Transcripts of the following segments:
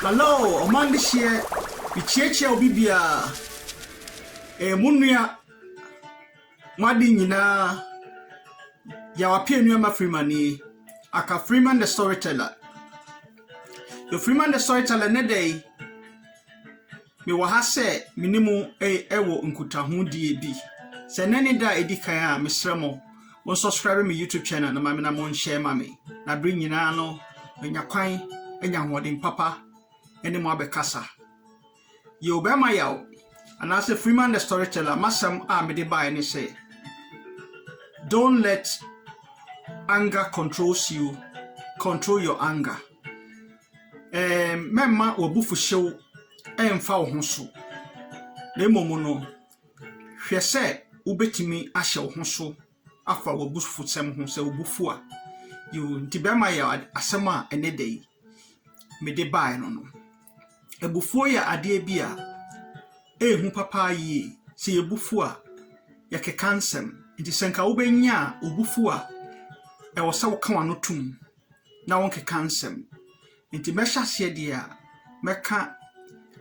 Hello ɔman dehyeɛ mekyiakyia obi biara ɛyɛ mo nua mo ade nyinaa Yawape Anuama Freeman nie aka Freeman the storyteller Freeman the storyteller nnɛ da yi Mewɔ ha sɛ me ne mo wɔ nkutahodie bi. Sɛ nnɛ ne da a ɛdi kan a, mesrɛ mo, mo nsɔskraibe me YouTube channel na mamena mo nhyɛ ma me. Na bere nyinaa no, manya kwan anya ahoɔden papa ne mo abɛkasa. Yɛ obɛma yaw, anaasɛ Freeman the Storyteller, masɛm a mede bae ne sɛ, Don't let anger controls you, control your anger. Ɛɛm, mɛmma w'abufuhyew mfa wo ho so, na mmom no, hwɛ sɛ wubetumi ahyɛ wo ho so afa w'abufusɛm ho sɛ wo bo fu a. Yiw, nti bɛrima yɛ asɛm a ɛne da yi mede bae no no. Abufuo yɛ adeɛ bi a ɛyɛ hu papa yie. Sɛ yɛbu fu a, yɛkeka nsɛm. Nti sɛ nka wobɛnya obufuo a, ɛwɔ sɛ woka w'ano tom. na wɔnkeka nsɛm. Enti mɛhyɛ aseɛ deɛ a, mɛka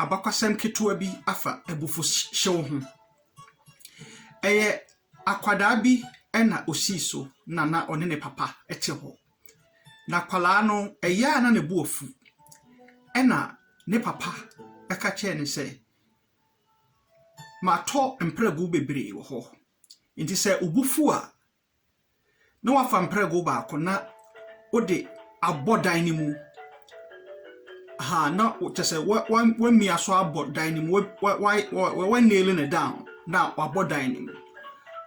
abakɔsɛm ketewa bi afa abufuhyew ho. Ɛyɛ akwadaa bi na ɔsii so na na ɔne ne papa te hɔ. Na akwadaa no, ɛyɛ a na ne bo afu. Ɛna ne papa ka kyerɛɛ no sɛ, matɔ mprɛgu bebree wɔ hɔ. Enti sɛ obu fu a, na woafa mprɛgo baako na wode abɔ dan no mu. Ahaa, na kyerɛ sɛ wa wa wamia so abɔ dan no mu, wa wa wa wa nail no down na wabɔ dan no mu.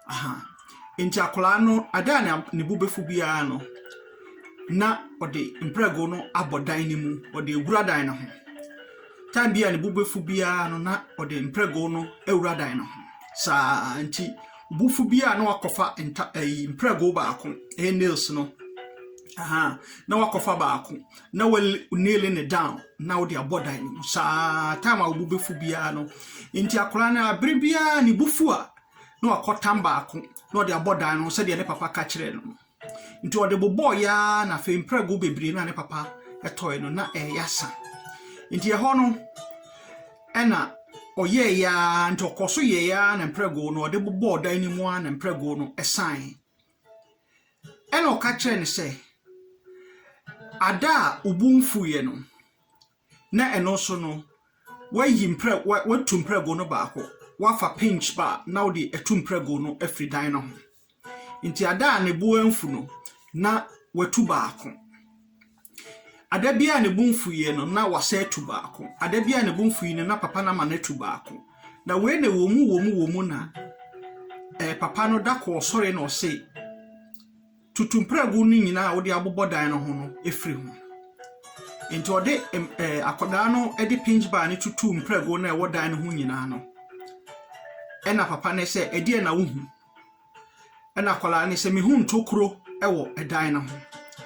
Ahaa. Nti akwadaa no, ada a na ne bo bɛfu biara no, na ɔde mprɛgo no abɔ dan no mu, ɔde awura dan no ho. Tan bi a ne bo bɛfu biara no, na ɔde mprɛgo no awura dan no ho. Saa nti bufo bi a na wakɔfa nta ɛyi mprɛgo baako ɛyɛ nails no ahan na wakɔfa baako na wa nail ne down na wode abɔ dan no mu saa time a wo bɛfu biara no nti akwadaa no abere biara ne bufu a na wakɔtam baako na ɔde abɔ dan no sɛdeɛ ne papa ka kyerɛ no Nti ɔde bobɔɔeɛ ara na afei mprɛgo bebree no a ne papa tɔe no na ɛreyɛ asa. Nti ɛhɔ no ɛna ɔyɛeɛ ara nti ɔkɔ so yɛeɛ ara na mprɛgo no ɔde bobɔɔ dan no mu ara na mprɛgo no sae. Ɛna ɔka kyerɛɛ no sɛ, Ada a wo bo mfuiɛ no, na ɛno nso no woayi mprɛ wa woatu mprɛgo no baako woafa pinch ba a na wode atu mprɛgo no afiri dan no ho nti ada a ne bo amfu no na watu baako ada bi a ne bo mfuiɛ no na wasa atu baako ada bi a ne bo mfui no na papa no ama no atu baako na wei na wɔ mu wɔ mu wɔ mu na eh, papa no da kɔɔ sɔre na ɔse Tutu mprɛgow no nyinaa a wode abobɔ dan no ho no firi ho. Enti ɔde ɛɛ akwadaa no de pinch bar no tutuu mprɛgow no a ɛwɔ dan no ho nyinaa no. Ɛna papa no sɛ, ɛdeɛ na wohu? Ɛna akwadaa no sɛ, mehu ntokuro wɔ ɛdan no ho.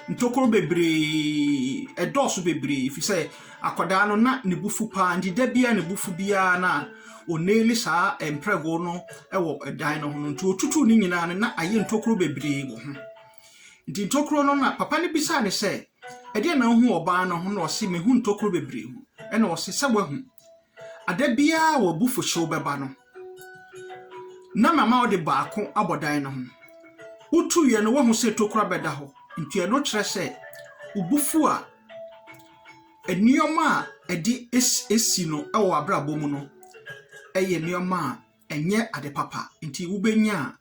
Ntokuro bebree, ɛdɔɔso bebree, ɛfiri sɛ akwadaa no na ne bo fu paa, nti da biara ne bo fu biara na onii ne saa mprɛgo no wɔ dan no ho no, nti ɔtutuu ne nyinaa no, na ayɛ ntokuro bebree wɔ ho. Nti ntokuro no na papa no bisaa ne sɛ, ɛdeɛ na wohu ɔbaa no ho na ɔse mehu ntokuro bebree ho. Ɛna ɔse sɛ wahu. Ada biara wɔ abufuhyew bɛba no, na mama ɔde baako abɔ dan no ho. Wotu yɛ no wahu sɛ tokura bɛda hɔ, nti ɛno kyerɛ sɛ wobufu a Nneɛma a ɛde si no wɔ w'abrabɔ mu no yɛ nneɛma a ɛnyɛ ade papa. Nti wobɛnya a,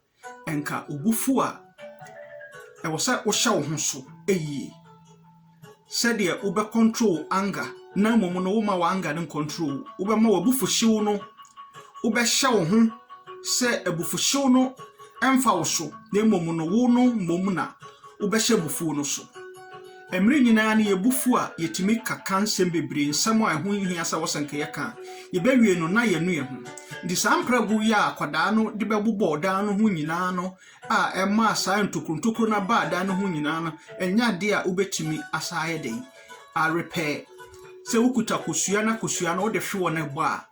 anka wo bo fu a, ɛwɔ sɛ wohyɛ wo ho so yie sɛdeɛ wobɛ control wo anger na mmom no woma wo anger no ncontrol wo. Wobɛma w'abufuhyew no, wobɛhyɛ wo ho sɛ abufuhyew no mfa wo so na mmom no wo no mmom na wobɛhyɛ abufuo no so. Mmere nyinaa no yɛn bo fuw a, yetumi ka ka nsɛm bebree, nsɛm a ɛho nhia sɛ wɔsɛ nka yɛka a, yebewie no na yɛanu yɛn ho. Enti saa mprɛgow yi a akwadaa no de bɛbobɔw dan no ho nyinaa no a ɛmaa saa ntokuru ntokuru no baa dan no ho nyinaa no nyɛ ade a wobetumi asan ayɛ dɛn arepɛɛ. Sɛ wokuta kosua na kosua no wode hwe wɔ no bɔ a,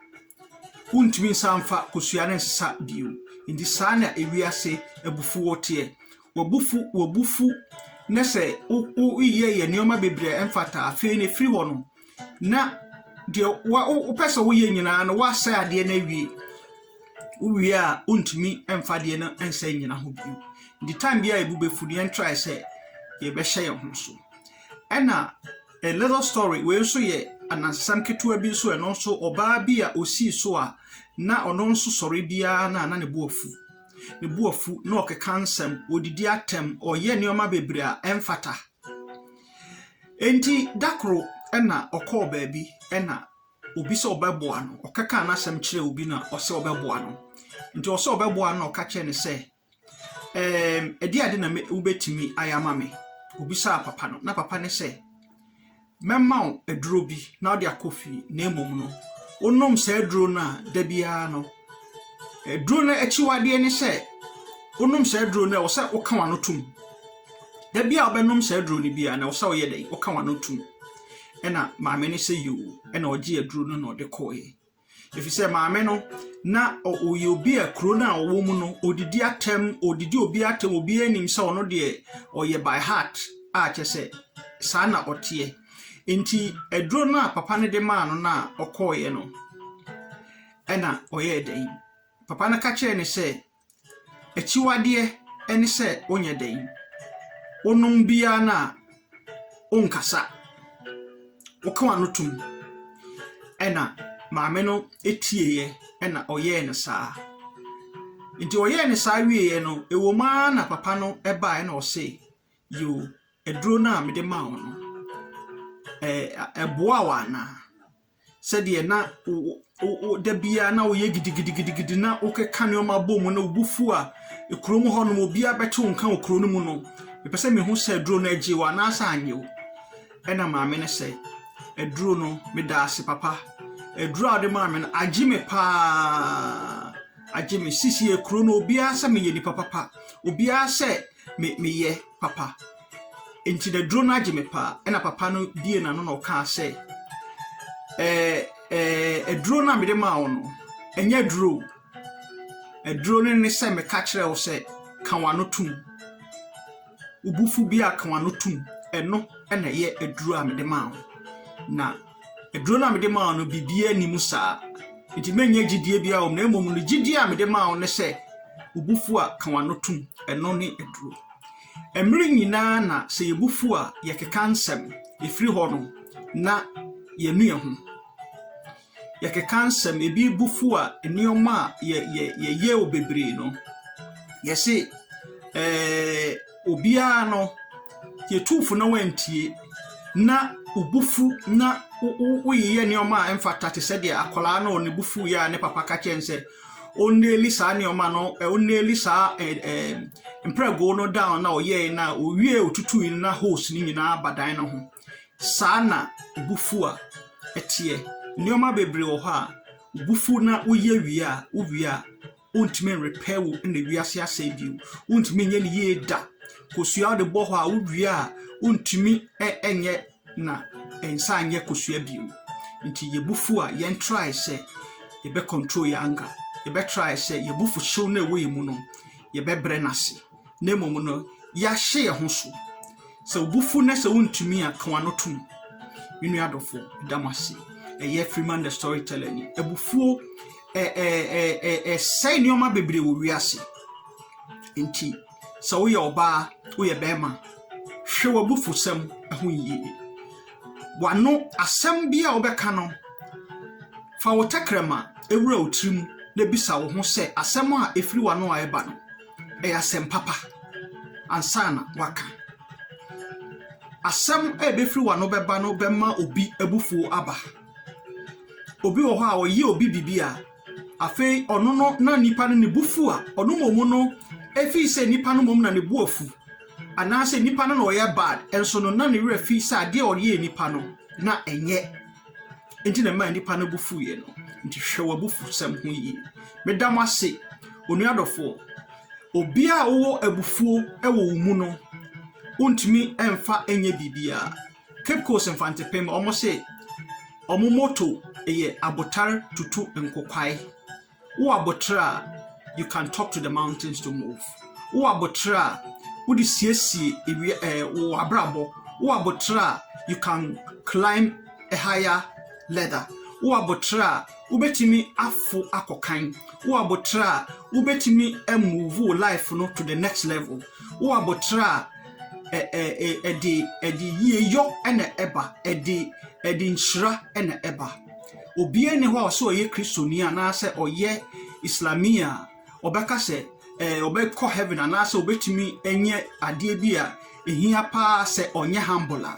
wontumi nsan mfa kosua no nsesa bio. Enti saa na wiase abufuw teɛ. W'abufu w'abufu na sɛ wo woyɛ yɛ nneɛma bebree a ɛmfata afei no firi hɔ no na deɛ wa wopɛ sɛ woyɛ nyinaa no woasɛ adeɛ no awie wowie a wontumi mfa adeɛ no nsa nyina ho bio nti time bi a yɛbu bɛfu no yɛntrae sɛ yɛbɛhyɛ yɛn ho so ɛna a little story wei nso yɛ anansesɛm ketewa bi nso ɛno nso ɔbaa bi a ɔsii so a na ɔno nso sɔre biara na na ne bo afu ne bo afu na ɔkeka nsɛm, ɔdidi atɛm, ɔyɛ nneɛma bebree a ɛmfata. Enti da koro na ɔkɔɔ baabi na obi sɛ ɔbɛboa no, ɔkeka n'asɛm kyerɛ obi na ɔsɛ ɔbɛboa no. Nti ɔsɛ ɔbɛboa no na ɔka kyerɛ no sɛ, ɛɛm, ɛde ade na wobɛtumi ayɛ ama me? Obisaa papa no, na papa ne sɛ, Mɛma wo aduro bi na wode akɔ fie, na mmom no, wonom saa aduro no a, da biara no, aduro no akyiwadeɛ ne sɛ, wonom saa aduro no a, ɛwɔ sɛ woka w'ano tom. Da biara a wobɛnom saa aduro no biara no, ɛwɔ sɛ woyɛ dɛn? Woka w'ano tom. Ɛna maame no sɛ, Yoo. Ɛna ɔgyee aduro no na ɔde kɔeɛ. Efisɛ maame no, na ɔyɛ obi a kuro no a ɔwɔ mu no, ɔdidi atɛm, ɔdidi obi atɛm, obiara nim sɛ ɔno deɛ ɔyɛ by heart a kyɛ sɛ saa na ɔteɛ. Nti aduro no a papa no de maa no no a ɔkɔeɛ no, ɛna ɔyɛɛ dɛn? Papa no ka kyerɛɛ no sɛ, Akyiwadeɛ ne sɛ wonyɛ dɛn? Wonom bi ara no a, wonkasa. Woka w'ano tom. Ɛnna maame no tieeɛ, ɛnna ɔyɛɛ no saa. Enti ɔyɛɛ no saa wieeɛ no, ɛwom ara na papa no baeɛ ɛnna ɔse, Yoo, aduro no a mede maa wo no, ɛ ɛboaa wo anaa? sɛdeɛ na da biara na woyɛ gidigidigidi na wokeka nneɛma bɔ mu na wo bo fu a kurom hɔ nom obiara bɛte wo nka wɔ kuro no mu no mepɛ sɛ mehu sɛ aduro no agye wo anaasɛ anyɛ wo ɛna maame no sɛ aduro no meda ase papa aduro a wode maa me no agye me paa agye me sisi kuro no obiara sɛ meyɛ nipa papa obiara sɛ me meyɛ papa nti na duro no agye me paa ɛna papa no bie n'ano na ɔkaa sɛ ɛɛ ɛɛ aduro no a mede maa wo no ɛnyɛ aduro o. aduro no ne sɛ meka kyerɛ wo sɛ ka w'ano tom wobufo bi a ka w'ano tom ɛno ɛna ɛyɛ aduro a mede maa wo na Aduro no a mede maa wo no, biribiara nni mu saa. Enti menyɛ gyidie biara wɔ mu, na mmom no gyidie a mede maa wo ne sɛ, wo bo fu a, ka w'ano tom. Ɛno ne aduro. Mmere nyinaa na sɛ yɛn bo fu a, yɛkeka nsɛm. Ɛfiri hɔ no, na yɛnu yɛn ho. Yɛkeka nsɛm, ebi bo fu a, nneɛma a yɛ, yɛ, yɛyɛ wɔ bebree no, yɛse ɛɛ. obiara no, yɛtuu fo na wantie, na wo bo fu na woyeyɛ nneɛma a ɛmfata te sɛ deɛ akwadaa no ne bo fu yɛ a ne papa ka kyɛn sɛ ɔnneli saa nneɛma no ɔnneli saa mprɛgo no down na ɔyɛe na owie ɔtutui no na hose no nyinaa ba dan no ho saa na bo fu a ɛteɛ nneɛma bebree wɔ hɔ a bo fu na woyɛ wie a wowie a wontumi nrepair wo na wiase asɛe bio wontumi nyɛ ne yie da kosua wode bɔ hɔ a wowie a wontumi nyɛ na nsa nyɛ kosua bio nti yɛbufu a yɛn try sɛ yɛbɛ control yɛn anger yɛbɛ try sɛ yɛbufu hyew na ɛwɔ yɛn mu no yɛbɛbrɛ n'ase na mmom no yɛahyɛ yɛn ho so. Sɛ wo bo fu na sɛ wontumi a, ka w'ano tom. Me nua adɔfo, da mo ase. Ɛyɛ Freeman the Storyteller ni. Abufuo ɛsɛe nneɛma bebree wɔ wiase. Nti sɛ woyɛ ɔbaa, woyɛ bɛrima, hwɛ w'abufusɛm ho yie. W'ano asɛm bi a wobɛka no, fa wo tɛkrɛma ewura wo tirim na bisa wo ho sɛ asɛm a ɛfiri w'ano a ɛba no, ɛyɛ asɛm papa ansa na waka. Asɛm a ɛbɛfiri w'ano bɛba no bɛma obi abufuo aba. Obi wɔ hɔ a ɔyɛ obi biribi a, afei ɔno no na nipa no ne bu fu a, ɔno mmom no, ɛfiri sɛ nipa no mmom na ne bu afu, anaasɛ nipa no na ɔyɛ bad, nso no na ne werɛ fi sɛ adeɛ a ɔyɛɛ nipa no na ɛnyɛ nti na ɛmaa nnipa no bo fuiɛ no. Nti hwɛ w'abufuhsɛm ho yie. Meda mo ase, onua dɔfoɔ. Obiara a wowɔ abufuo wɔ wo mu no, wontumi mfa nyɛ biribiara. Cape Coast Mfantepem, wɔn se wɔn motto yɛ abotar tutu nkokwae. Wo aboterɛ a, you can talk to the mountains to move. Wo aboterɛ a, wode siesie ewia ɛɛ eh, wo abrabɔ. Wo aboterɛ a, you can climb a higher ladder. Wo aboterɛ a, wobɛtumi afo akɔ kan. Wo aboterɛ a, wobɛtumi move wo life no to the next level. Wo aboterɛ a, ɛde ɛde yie yɔ ɛna ɛba, ɛde ɛde nhyira ɛna ɛba. obiara nni hɔ a ɔsɛ ɔyɛ kristoni anaasɛ ɔyɛ islamia a ɔbɛka sɛ ɛɛ ɔbɛkɔ heaven anaasɛ ɔbɛtumi nyɛ adeɛ bi a ɛhia paa sɛ ɔnyɛ humble a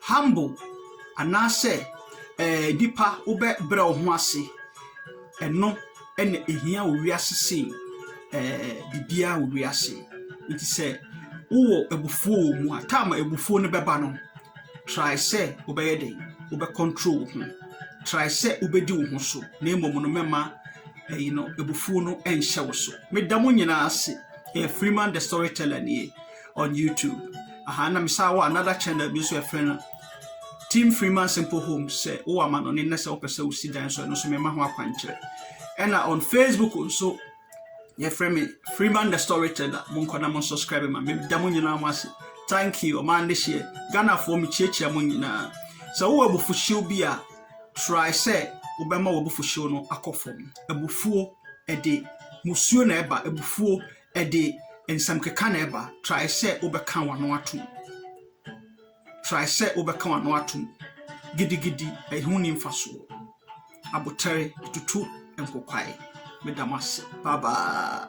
humble anaasɛ ɛɛ nipa wobɛbrɛ wo ho ase ɛno ɛna ɛhia wɔ wiase sei ɛɛ biribiara wɔ wiase nti sɛ wowɔ abufuo wɔ mu a taama abufuo no bɛba no Try sɛ wobɛyɛ dɛn? Wobɛ control wo ho. Try sɛ wobɛdi wo ho so na mmom no mɛma ɛyi no abufuo no nhyɛ wo so. Meda mo nyinaa ase. Ɛyɛ Freeman the Storyteller nie on YouTube. Aha na mesan wɔ another channel bi nso ɛfrɛ no Team Freeman Simple Home sɛ wowɔ amanɔne na sɛ wopɛ sɛ wosi dan so ɛno nso mema ho akwankyerɛ. Ɛna on Facebook nso yɛfrɛ me freeman the storyteller monkɔ na mo subscribe ma meda mo nyinaa mo ase thank you ɔmaa ne hyeɛ ghanafoɔ mekyiakyia mo nyinaa sɛ wowɔ abufuhyew bi a try sɛ wobɛma w'abufuhyew no akɔ fam abufuo ɛde musuo na ɛba abufuo ɛde nsɛm keka na ɛba try sɛ wobɛka w'ano atom Try sɛ wobɛka w'ano atom. Gidigidi, ɛho nni mfasoɔ. Abotare, ɛtutu nkokwae. Meda mo ase. Bye bye.